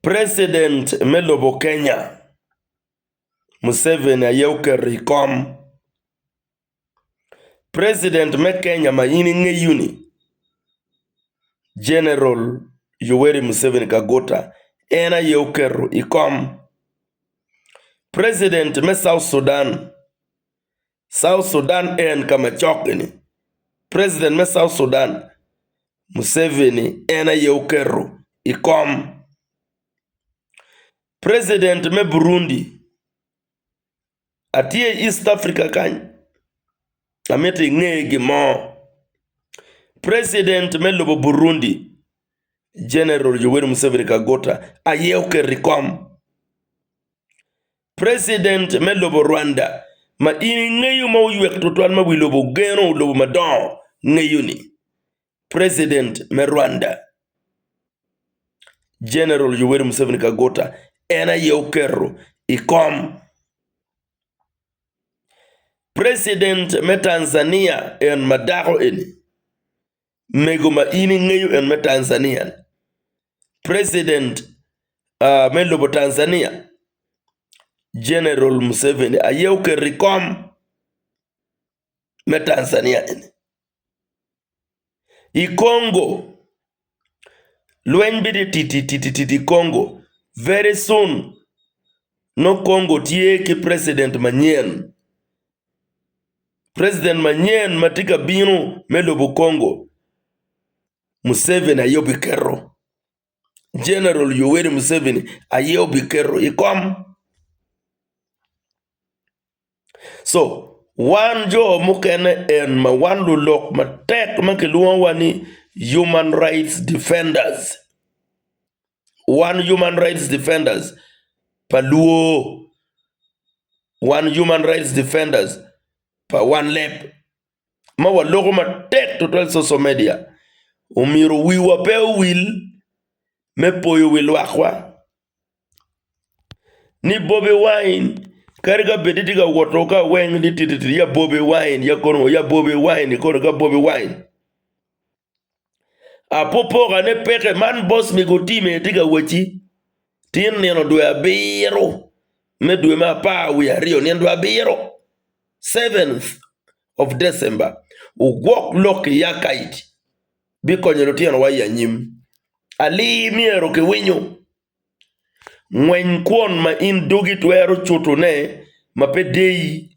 President me lobo Kenya Museveni aye oketo i kom. President me Kenya ma in ingeyo ni General Yoweri Museveni Kaguta en aye oketo i kom. President me South Sudan South Sudan en ka ma cok-ki ni, President me South Sudan, Museveni en aye oketo i kom. President me Burundi, atye i East Africa kany, amito inge gin mo. President me lobo Burundi, General Yoweri Museveni Kaguta aye oketo i kom. President me lobo Rwanda ma in ingeyo ma oywek twatwal ma wi lobo geno lobo madongo ngeyo ni President me Rwanda General Yoweri Museveni Kaguta en aye oketo i kom. President me Tanzania en ma dako eni Mego ma in ingeyo en me Tanzania ni, president me lobo Tanzania General Museveni aye oketo i kom me Tanzania eni. I Congo lweny bino tititititi i Congo very soon nongo Congo tye ki president manyen President manyen ma tye ka bino me lobo Congo, Museveni aye obiketo, General Yoweri Museveni aye obiketo i kom. Co wan jo mukene en ma wan lulok matek ma kilwongowa ni human rights defenders. Wan Human Rights Defenders pa luo, wan Human Rights Defenders pa wan leb ma waloko matek tutwal cocal media omyero wiwa pe owil me poyo wi lwakwa ni Bobi Wine kadi ka bed ni tye ka wot ki aweng ni titititi ya Bobi Wine ya kor ngo ya Bobi Wine kodi ka Bobi Wine. Apopoka ne peke man boss me go team aye tye ka wacci tye nino dwe abiro me dwe me apar wiye aryo nino dwe abiro seventh of December ogwok lok ki ya kaic bikonyo lutino wa i anyim alir myero ki winyo ngweny kwon ma in dogi twero cutone ma pe deyi.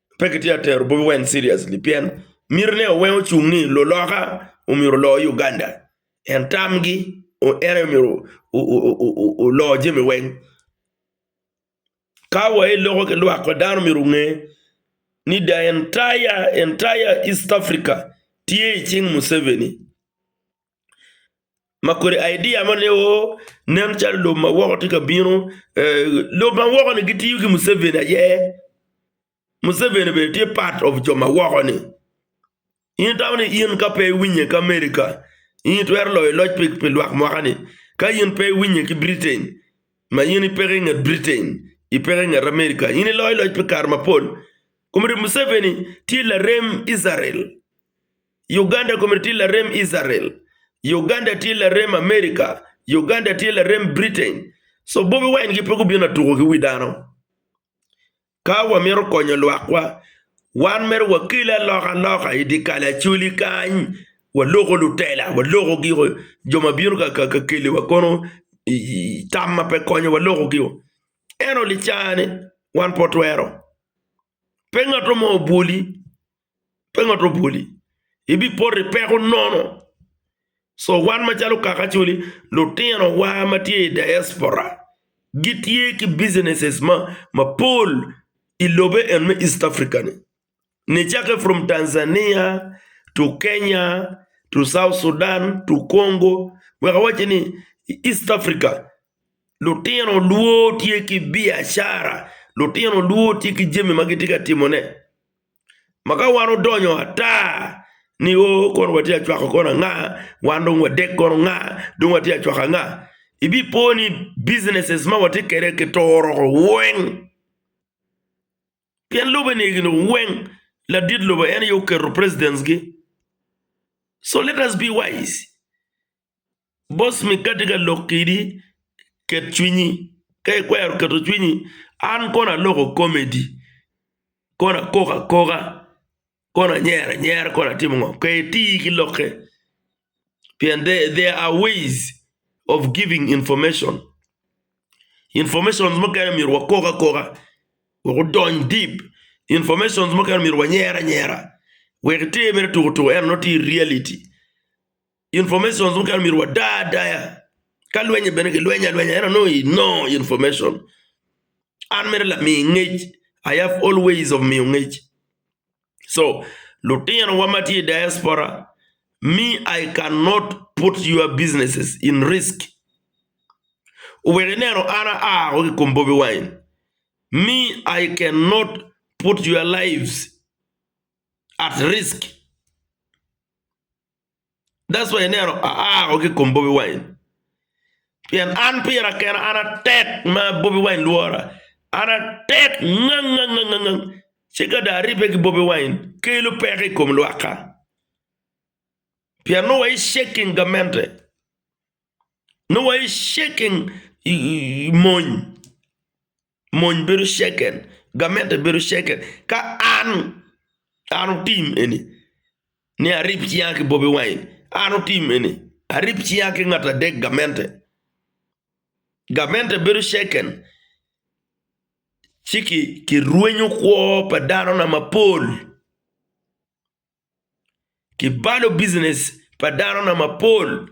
Pe kitye ka tero Bobi Wine seriously pien miti ne oweng ocung ni luloka omyero olor Uganda. En tam gi en aye omyero olor jami weng. Ka wa iloko ki lwak wa dano myero onge ni the entire entire East Africa tye icing Museveni. ma kodi idea moni o nen calo lobo ma woko tye ka bino. Lobo ma woko-ni gitiyo ki Museveni aye, Museveni bene tye part of jo ma woko-ni. In itamo ni in ka pe iwinye ki Amerika, in itwero loyo loc pi lwak mwaka-ni? Ka in pe iwinye ki Britain, ma in ipeko i nget Britain, ipeko i nget Amerika, in iloyo loc pi kare mapol. Komere Museveni tye larem Icrael. Uganda kome tye larem Israel, Uganda tye larem America, Uganda tye larem Britain. So Bobi Wine gi pe gubino atuko ki wi dano. Ka wamito konyo lwakwa, wan mere wakel aloka loka i di kalacoli kany, waloko lutela, waloko giko jo ma bino ka keli wa kono tam ma pe konyo waloko giko. Eno li caa ni wan pe watwero. Pe ngato mo obwoli pe ngat obwoli, ibipoto i peko nono. Co wan macalo kaka acoli, lutinowa ma tye i diaspora gitye ki businesses mapol i lobe en me East Africa ni. Nicakke from Tanzania to Kenya to South Sudan to Congo wek awacci ni i East Africa lutino lwor tye ki biacara, lutino lwor tye ki jami ma gitye ka timone. Ma ka wan odonyo ata ni oo kono watye ka cwako kono anga, wan dong wadek kono anga, dong watye ka cwako anga, ibipo ni businesses ma watye kwede kituro woko weng. Pien lobbe-ni egini weng ladit lobo en aye oketo presidents-gi. So let us be wise. Boss mi ka tye ka lok kedi ket cwinyi ka ikwero keto cwinyi an kono aloko komedi kono akoko akoka kono anyero anyera kono atimo ngo ka iti ki lokke pien there are ways of giving information, information mukene myero wakok akoka wek odony deep information mukene myero wanyer anyera wek ite mere tuk tuk ento nongo tye reality. Informations mukene omyero wada adaya. Ka lwenye bene gilwenyo alwenya ento nongo i no information. An mere lami ngec, I have all ways of miyo ngec. So lutinowa ma tye i diaspora, me I can not put your businesses in risk. Wek ineno an aa woko ki i kom Bobi Wine, me I can not put your lives at risk. That's why ineno aako ki i kom Bobi Wine pien an pira kena an atek ma Bobi Wine lwora, an atek ngangngangngang ci ka dong aribbe ki Bobi Wine kelo peko i kom lwakka pien nongo waye shaking gamente, nongo waye shaking mony. mony bedo ceken, gamente bedo ceken. Ka an, an otim eni, ni arip cinga ki Bobi Wine, an otim eni, arip cinga ki ngat adek gamente, gamente bedo ceken, ci kirwenyo kwo pa danona mapol. Kibalo business pa dano na mapol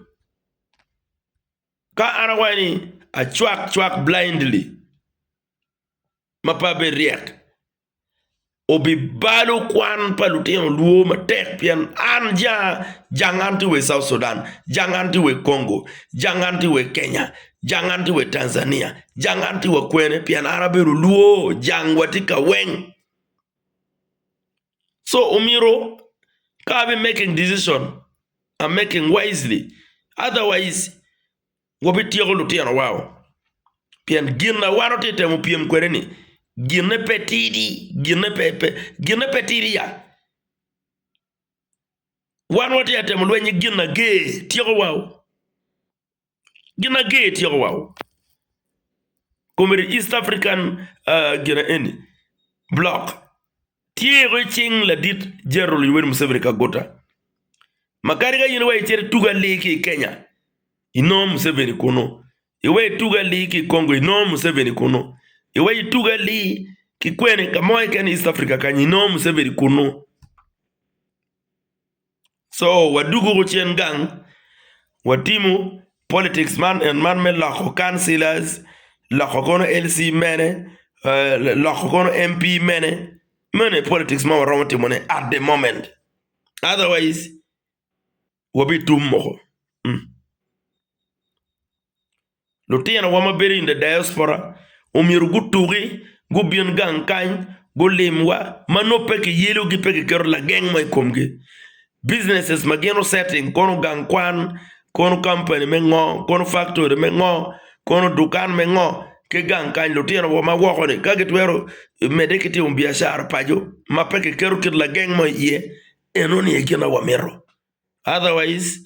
ka an awaco ni acwak cwak blindly ma pe abed ryek obibalo kwan pa lutino lwo matek pien an janga, janga an tye wa i South Sudan, janga an tye wa i Congo, janga an tye wa i Kenya, janga an tye wa i Tanzania, janga an tye wa kwene pien an abedo lwo jangwa tye ka weng. So omyero ka abi making decision, a making wisely otherwise wabityeko lutinowao pien gin ma wan watye ka temo pyem kwede-ni ginne pe tidi, ginne pe pe ginne pe tidi ya. Wan watye ka temo lweny ki gin ager, tyeko wau. Gin ma ger tyeko wa o kome ni East African gina eni block tye wa ki cing ladit General Yoweri Museveni Kaguta ma kadi ka in iweko icito itugo ali ki i Kenya inongo Museveni kunu, iweko itugo ali ki i Congo inongo Museveni kunu, iweko itugo ali ki kwene ka mo keken i East Africa kany inongo Museveni kunu. So wadugu gucen gang watimo politics man and man me loko councilors, loko kono LC mene, loko kono MP mene, mene politics ma waromo timo ne at the moment otherwise wabitum moko. Lutinowa ma bedo in the diaspora omyero gutuki, gubin gang kany, gulimwa, ma nongo pe kiyelogi, pe kiketo lageng mo i komgi. Businesses ma gin osetting, kono gang kwan, kono kampani me ngo, kono faktori me ngo, kono dukan me ngo, ki gang kany, lutinowa ma woko-ni ka gitwero medde ki timo biacara paco ma pe kiketo kit lageng mo iye, enoni aye gin ma wamito. Otherwise.